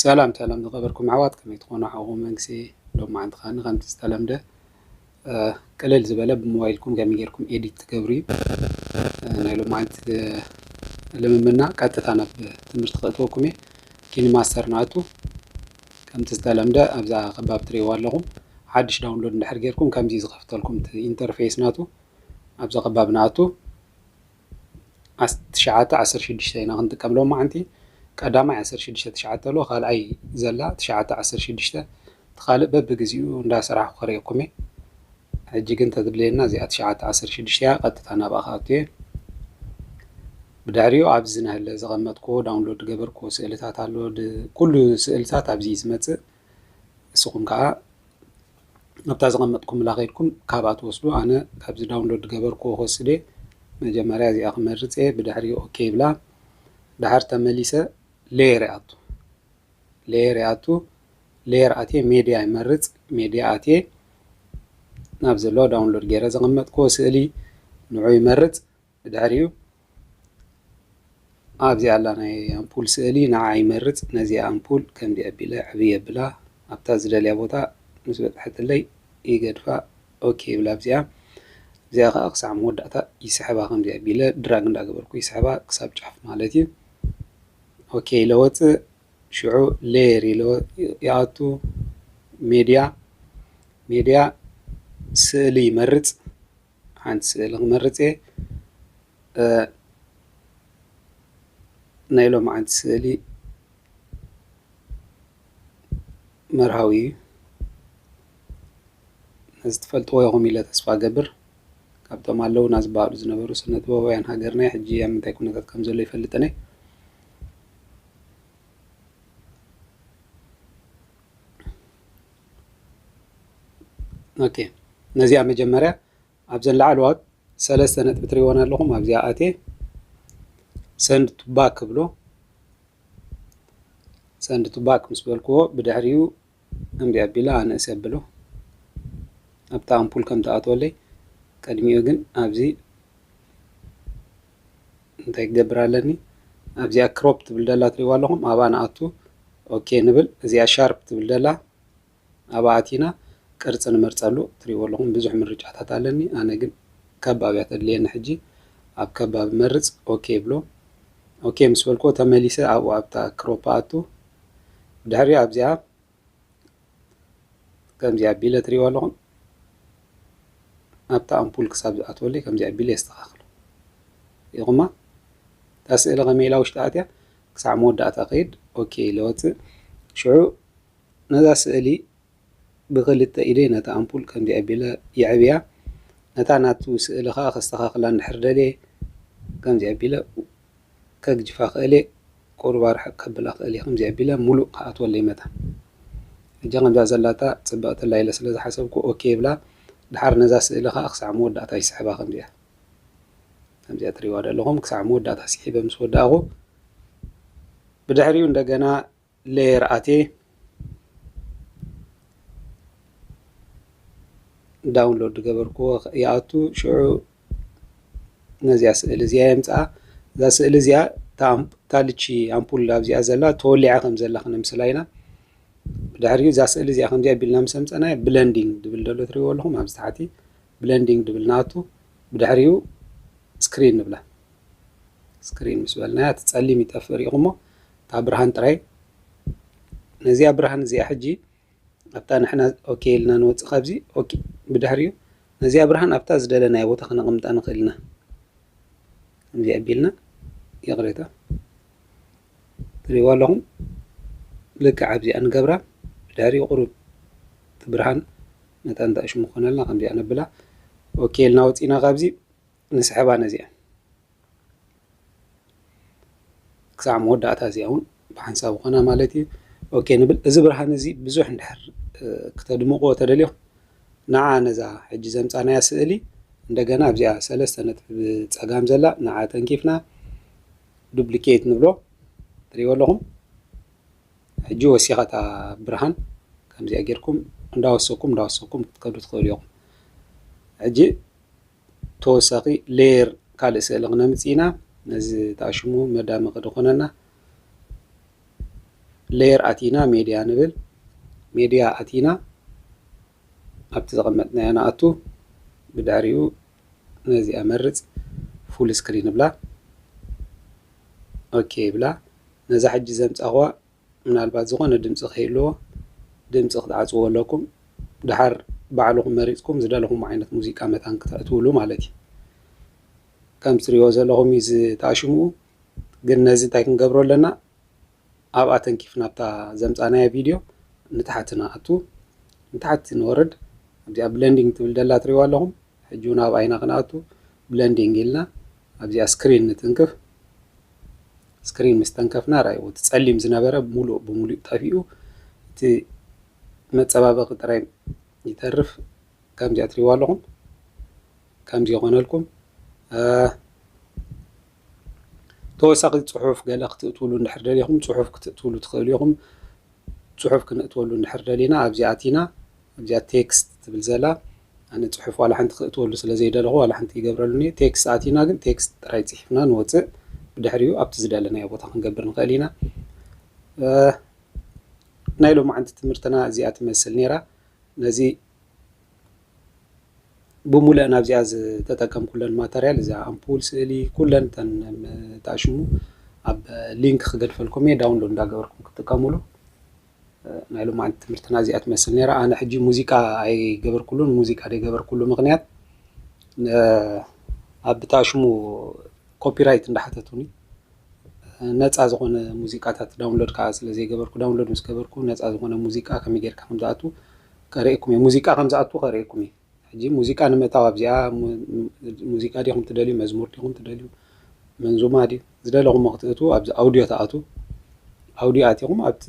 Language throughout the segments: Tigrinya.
ሰላም ሰላም ዝከበርኩም ኣሕዋት ከመይ ትኮኑ ሓውኩም መንግስቲ ሎም መዓልቲ ከኣ ከምቲ ዝተለምደ ቅልል ዝበለ ብሞባይልኩም ከመይ ጌርኩም ኤዲት ትገብሩ እዩ ናይ ሎም መዓልቲ ልምምና ቀጥታ ናብ ትምህርቲ ከእትወኩም እየ ኪኒ ማስተር ንኣቱ ከምቲ ዝተለምደ ኣብዛ ከባቢ ትሪእዋ ኣለኹም ሓድሽ ዳውንሎድ እንድሕር ጌርኩም ከምዚ ዝኸፍተልኩም ኢንተርፌስ ናቱ ኣብዛ ከባቢ ንኣቱ ዓሰርተ ትሽዓተ ዓሰርተ ሽዱሽተ ኢና ክንጥቀም ሎማዓንቲ ቀዳማይ ዓሰርተ ሽዱሽተ ትሽዓተ ኣሎ ካልኣይ ዘላ ትሽዓተ ዓሰርተ ሽዱሽተ እቲ ካልእ በብግዚኡ እንዳሰራሕኩ ከርእየኩም እየ ሕጂ ግን ተድልየና እዚኣ ትሽዓተ ዓሰርተ ሽዱሽተ እያ ቀጥታ ናብኣ ክኣቱ እየ ብድሕሪኡ ኣብዚ ናህለ ዘቐመጥኩዎ ዳውንሎድ ገበርኩዎ ስእልታት ኣሎ ኩሉ ስእልታት ኣብዚ እዩ ዝመፅእ ንስኹም ከኣ ኣብታ ዘቐመጥኩምላ ከድኩም ካብኣ ትወስዱ ኣነ ካብዚ ዳውንሎድ ገበርክዎ ክወስድ እየ መጀመርያ እዚኣ ክመርጽ እየ ብድሕሪ ኦኬ ይብላ ድሓር ተመሊሰ ሌየር ይኣቱ ሌየር ይኣቱ ሌየር ኣትየ ሜድያ ይመርጽ ሜድያ ኣትየ ናብ ዘሎ ዳውንሎድ ገይረ ዘቐመጥክዎ ስእሊ ንዑ ይመርጽ ብድሕሪኡ ኣብዚ ኣላ ናይ ኣምፑል ስእሊ ንዓ ይመርጽ ነዚ ኣምፑል ከምዚ ኣቢለ ዕብ የብላ ኣብታ ዝደልያ ቦታ ምስ በጽሐትለይ ይገድፋ ኦኬ ይብላ ኣብዚኣ እዚኣ ከዓ ክሳዕ መወዳእታ ይስሕባ ከምዚ ኣቢለ ድራግ እንዳገበርኩ ይስሕባ ክሳብ ጫፍ ማለት እዩ ኦኬ ኢለ ወፅእ ሽዑ ሌየር ኢለ ይኣቱ ሜድያ ሜድያ ስእሊ ይመርጽ ሓንቲ ስእሊ ክመርጽ እየ ናይ ሎምዓንቲ ስእሊ መርሃዊ እዩ ነዚ ትፈልጥዎ ኢኹም ኢለ ተስፋ ገብር ካብቶም ኣለውና ዝበሃሉ ዝነበሩ ስነ ጥበባውያን ሃገርና ሕጂ ኣብ ምንታይ ኩነታት ከም ዘሎ ይፈልጥነ ኦኬ ነዚኣ መጀመርያ ኣብዘን ላዕለዋት ሰለስተ ነጥቢ ትሪእወን ኣለኹም ኣብዚኣ ኣቴ ሰንድ ቱባክ ክብሎ ሰንድ ቱባክ ምስ በልክዎ ብድሕሪኡ እምቢ ኣቢላ ኣነእስ ኣብሎ ኣብቲ ኣምፑል ከም ትኣትወለይ ቅድሚኡ ግን ኣብዚ እንታይ ክገብር ኣለኒ ኣብዚኣ ክሮፕ ትብል ደላ ትሪእዋ ኣለኹም ኣብኣ ንኣቱ ኦኬ ንብል እዚኣ ሻርፕ ትብል ደላ ኣብኣ ኣቲና ቅርፂ ንመርፀሉ ትሪእዎ ኣለኹም ብዙሕ ምርጫታት ኣለኒ ኣነ ግን ከባብ እያ ተድልየኒ ሕጂ ኣብ ከባብ መርፅ ኦኬ ብሎ ኦኬ ምስ በልኩዎ ተመሊሰ ኣብኡ ኣብታ ክሮፕ ኣቱ ድሕሪ ኣብዚኣ ከምዚ ኣቢለ ትሪእዎ ኣለኹም ኣብታ ኣምፑል ክሳብ ዝኣትወለይ ከምዚ ኣቢለ የስተኻኽሎ ሪኢኹማ እታ ስእሊ ከመይ ኢላ ውሽጢ ኣትያ ክሳዕ መወዳእታ ከይድ ኦኬ ኢለ ወፅእ ሽዑ ነዛ ስእሊ ብክልተ ኢደ ነታ ኣምፑል ከምዚ ኣቢለ የዕብያ ነታ ናቱ ስእሊ ከዓ ከስተኻኽላ እንድሕር ደልየ ከምዚ ኣቢለ ከግጅፋ ኣክእሌ ቁሩብ ኣርሕቅ ከብላ ኣክእሌ ከምዚ ኣቢለ ሙሉእ ክኣትወለይ መታ ሕጂ ከምዛ ዘላታ ጽብቅቲ ኣላ ኢለ ስለ ዝሓሰብኩ ኦኬ ይብላ ድሓር ነዛ ስእሊ ከኣ ክሳዕ መወዳእታ ይስሕባ ከምዚኣ ከምዚኣ ትሪእዋ ደለኹም ክሳዕ መወዳእታ ሲሒበ ምስ ወዳእኩ ብድሕሪኡ እንደገና layer ኣትየ ዳውንሎድ ዝገበርክዎ ይኣቱ ሽዑ ነዚኣ ስእሊ እዚኣ የምፅኣ እዛ ስእሊ እዚኣ ታልቺ ኣምፑል ኣብዚኣ ዘላ ተወሊዓ ከም ዘላ ክነምስላ ኢና ድሕሪ እዛ ስእሊ እዚኣ ከምዚኣ ቢልና ምስ ኣምፀናዮ ብለንዲንግ ድብል ደሎ ትሪእዎ ኣለኹም ኣብዚ ታሕቲ ብለንዲንግ ድብል ንኣቱ ብድሕሪኡ ስክሪን ንብላ ስክሪን ምስ በልናያ እቲ ፀሊም ይጠፍእ ሪኢኹሞ እታ ብርሃን ጥራይ ነዚኣ ብርሃን እዚኣ ሕጂ ኣብታ ንሕና ኦኬ ኢልና ንወፅእ ካብዚ ኦኬ ብድሕሪኡ ነዚኣ ብርሃን ኣብታ ዝደለናዮ ቦታ ክነቕምጣ ንኽእል ኢና እዚ ኣቢልና ይቕሬታ ትሪእዎ ኣለኹም ልክዕ ኣብዚኣ ንገብራ ብድሕሪኡ ቁሩብ እቲ ብርሃን ነታ እንተእሽሙ ክኾነልና ከምዚኣ ነብላ ኦኬ ኢልና ወፂእና ካብዚ ንስሕባ ነዚኣ ክሳዕ መወዳእታ እዚኣ እውን ብሓንሳብ ኮና ማለት እዩ ኦኬ ንብል እዚ ብርሃን እዚ ብዙሕ እንድሕር ክተድምቕዎ ተደልዮም ንዓ ነዛ ሕጂ ዘምፃናያ ስእሊ እንደገና ኣብዚኣ ሰለስተ ነጥቢ ብፀጋም ዘላ ንዓ ተንኪፍና ዱፕሊኬት ንብሎ ትሪእዎ ኣለኹም ሕጂ ወሲኸታ ብርሃን ከምዚኣ ጌርኩም እንዳወሰኩም እንዳወሰኩም ክትከዱ ትኽእሉ ኢኹም ሕጂ ተወሳኺ ሌየር ካልእ ስእሊ ክነምፅእ ኢና ነዚ ተኣሽሙ መዳመቂ ድኾነና ሌየር ኣቲና ሜድያ ንብል ሜድያ ኣቲና ኣብቲ ዘቐመጥናዮ ንኣቱ ብድሕሪኡ ነዚኣ መርፅ ፉል ስክሪን ብላ ኦኬ ብላ ነዛ ሕጂ ዘምፃኹዋ ምናልባት ዝኾነ ድምጺ ክህልዎ ድምጺ ክትዓጽዎ ኣለኩም ድሓር ባዕልኹም መሪጽኩም ዝደለኹሞ ዓይነት ሙዚቃ መታን ክተእትውሉ ማለት እዩ ከም ትሪእዎ ዘለኹም እዩ ዝተኣሽምኡ ግን ነዚ እንታይ ክንገብሮ ኣለና ኣብኣ ተንኪፍ ናብታ ዘምጻናያ ቪድዮ ንታሕቲ ንኣቱ ንታሕቲ ንወርድ እዚኣ ብለንዲንግ ትብል ደላ ትሪእዋ ኣለኹም ሕጂ ውን ኣብ ኣይና ክንኣቱ ብለንዲንግ ኢልና ኣብዚኣ ስክሪን ንትንክፍ ስክሪን ምስ ተንከፍና ራይዎ እቲ ጸሊም ዝነበረ ሙሉእ ብሙሉእ ጠፊኡ እቲ መጸባበቂ ጥራይ ይተርፍ ከምዚኣ ትሪዋ ኣለኹም ከምዚ ይኾነልኩም ተወሳኺ ጽሑፍ ገለ ክትእትውሉ እንድሕር ደሊኹም ጽሑፍ ክትእትውሉ ትኽእሉ ኢኹም ጽሑፍ ክነእትወሉ እንድሕር ደሊና ኣብዚ ኣቲና ኣብዚኣ text ትብል ዘላ ኣነ ጽሑፍ ዋላ ሓንቲ ክእትወሉ ስለ ዘይደለኹ ዋላ ሓንቲ ኣይገብረሉን እየ text ኣቲና ግን text ጥራይ ጽሒፍና ንወጽእ ብድሕሪኡ ኣብቲ ዝደለናዮ ቦታ ክንገብር ንኽእል ኢና ናይ ሎማዓንቲ ትምህርትና እዚኣ ትመስል ነይራ ነዚ ብሙለእን ኣብዚኣ ዝተጠቀምኩለን ማተርያል እዚኣ ኣምፑል፣ ስእሊ ኩለን ተን ተኣሽሙ ኣብ ሊንክ ክገድፈልኩም እየ ዳውንሎድ እንዳገበርኩም ክጥቀሙሉ። ናይ ሎማዓንቲ ትምህርትና እዚኣ ትመስል ነይራ። ኣነ ሕጂ ሙዚቃ ኣይገበርኩሉን። ሙዚቃ ዘይገበርኩሉ ምክንያት ኣብ ብተኣሽሙ ኮፒራይት እንዳሓተቱኒ ነጻ ዝኾነ ሙዚቃታት ዳውንሎድ ከኣ ስለ ዘይገበርኩ ዳውንሎድ ምስ ገበርኩ ነጻ ዝኾነ ሙዚቃ ከመይ ጌርካ ከም ዝኣቱ ከርእየኩም እየ ሙዚቃ ከም ዝኣቱ ከርእየኩም እየ ሕጂ ሙዚቃ ንምእታው ኣብዚኣ ሙዚቃ ዲኹም ትደልዩ መዝሙር ዲኹም ትደልዩ መንዙማ ድዩ ዝደለኹሞ ክትእትዉ ኣብዚ ኣውድዮ ትኣትዉ ኣውድዮ ኣቲኹም ኣብቲ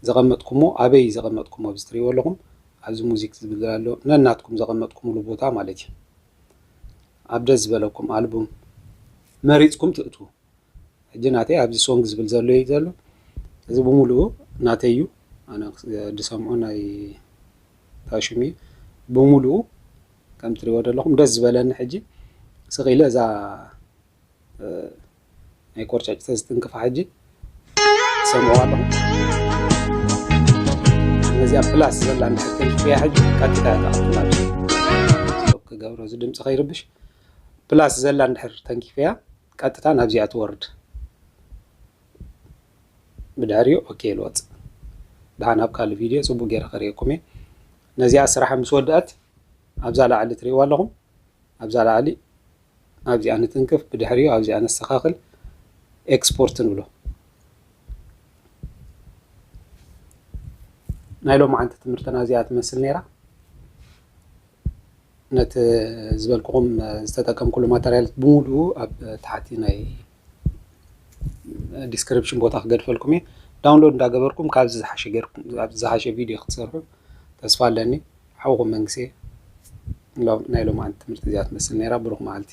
ዘቐመጥኩሞ ኣበይ ዘቐመጥኩሞ ኣብዚ ትሪእዎ ኣለኹም ኣብዚ ሙዚክ ዝብል ኣሎ ነናትኩም ዘቐመጥኩምሉ ቦታ ማለት እዩ ኣብ ደስ ዝበለኩም ኣልቡም መሪጽኩም ትእትዉ ሕጂ ናተይ ኣብዚ ሶንግ ዝብል ዘሎ እዩ ዘሎ እዚ ብምሉኡ ናተይ እዩ ኣነ ዝሰምዖ ናይ ታሽም እዩ ብምሉኡ ከም ትሪእዎ ዘለኹም ደስ ዝበለኒ ሕጂ ስቕ ኢለ እዛ ናይ ቆርጫጭተ ዝትንክፋ ሕጂ ሰምዑ ኣለኹ ነዚኣ ፕላስ ዘላ ንሕተንክፍያ ሕጂ ቀጥታ ተቐጥላ ክገብሮ እዚ ድምፂ ከይርብሽ ፕላስ ዘላ እንድሕር ተንኪፍያ ቀጥታ ናብዚኣ ትወርድ ብድሕሪኡ ኦኬ ልወፅ ድሓን ኣብ ካልእ ቪድዮ ፅቡቅ ገይረ ከርእየኩም እየ ነዚኣ ስራሓ ምስ ወድኣት ኣብዛ ላዕሊ ትሪእዋ ኣለኹም ኣብዛ ላዕሊ ኣብዚኣ ንትንክፍ ብድሕሪኡ ኣብዚኣ ነስተኻኽል ኤክስፖርት ንብሎ ናይ ሎም ዓንቲ ትምህርትና እዚኣ ትመስል ነይራ ነቲ ዝበልኩኹም ዝተጠቀምኩሉ ማተርያል ብምሉኡ ኣብ ታሕቲ ናይ ዲስክሪፕሽን ቦታ ክገድፈልኩም እየ ዳውንሎድ እንዳገበርኩም ካብዚ ዝሓሸ ገርኩም ኣብዚ ዝሓሸ ቪድዮ ክትሰርሑ ተስፋ ኣለኒ ሓውኹም መንግስኤ ናይ ሎማዓንቲ ትምህርቲ እዚኣ ትመስል ነይራ ብሩኽ መዓልቲ